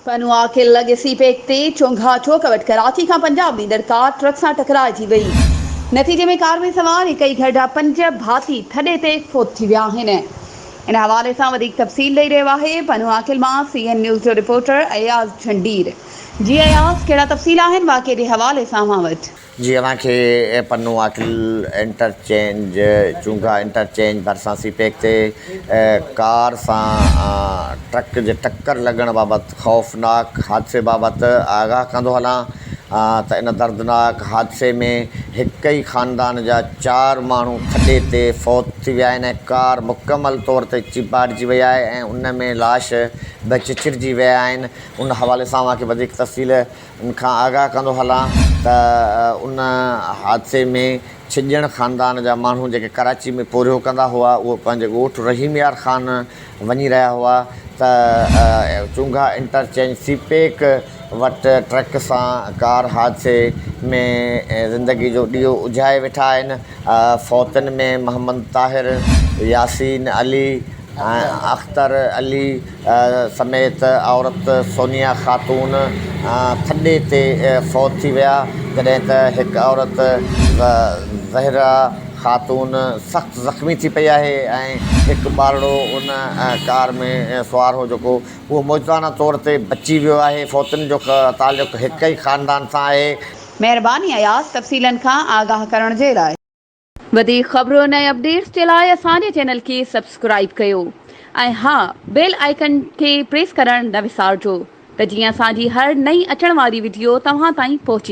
پنهوا کي لڳ سي پيڪ تي چونگها چوڪ وٽ ڪراچي کان پنجاب ويندڙ ڪار ٽرڪ سان ٽڪرائجي وئي، نتيجي ۾ ڪار ۾ سوار هڪئي گهر جا پنج ڀاتي ٿڏي تي فوت ٿي ويا آهن. ان حوالي سان وڌيڪ تفصيل ڏئي رهيو آهي پنهوا کل مان سي اين نيوز جو رپورٽر اياز جهنڊير. جي اياز ڪهڙا تفصيل آهن واقعي جي حوالي سان اوهان وٽ؟ جي اوهان کي پنو آڪل انٽرچينج، چونگا انٽرچينج ڀرسان سي پيڪ تي ڪار سان ٽرڪ جي ٽڪر لڳڻ بابت خوفناڪ حادثي بابت آگاهه ڪندو هلان ته ان دردناڪ حادثي ۾ هڪ ئي خاندان جا چار ماڻهو ٿڏي تي فوت ٿي ويا آهن ۽ ڪار مڪمل طور تي چيڀاٽجي وئي آهي ۽ ان ۾ لاش به چچرجي ويا آهن ان حوالي سان اوهان کي وڌيڪ تفصيل ان کان آگاهه ڪندو هلان ته ان حادثي ۾ ڇڄڻ خاندان جا ماڻهو جيڪي ڪراچي ۾ پورهيو ڪندا هئا اهي پنهنجي ڳوٺ رحيم يار خان وڃي رهيا هئا ته چونگها انٽرچينج سي پيڪ وٽ ٽرڪ سان ڪار حادثي ۾ زندگي جو ڏيئو اجهائي ويٺا آهن فوتن ۾ محمد طاهر ياسين علي اختر علي سميت عورت سونيا خاتون ٿڏي تي فوت ٿي ويا جڏهن ته هڪ عورت زهره خاتون سخت زخمي ٿي پئي آهي ۽ هڪ ٻارڙو ان ڪار ۾ سوار هو جيڪو اهو موجزانه طور تي بچي ويو آهي فوتن جو تعلق هڪ ئي خاندان سان آهي. مهرباني اياز تفصيلن کان آگاهه ڪرڻ جي لاء. وڌيڪ خبرن ۽ اپڊيٽس جي لاء اسان جي چينل کي سبسڪرائيب ڪيو ۽ ها بيل آئيڪن کي پريس ڪرڻ نه وسارجو ته جيئن اسان جي هر نئين اچڻ واري وڊيو توهان تائين پهچي.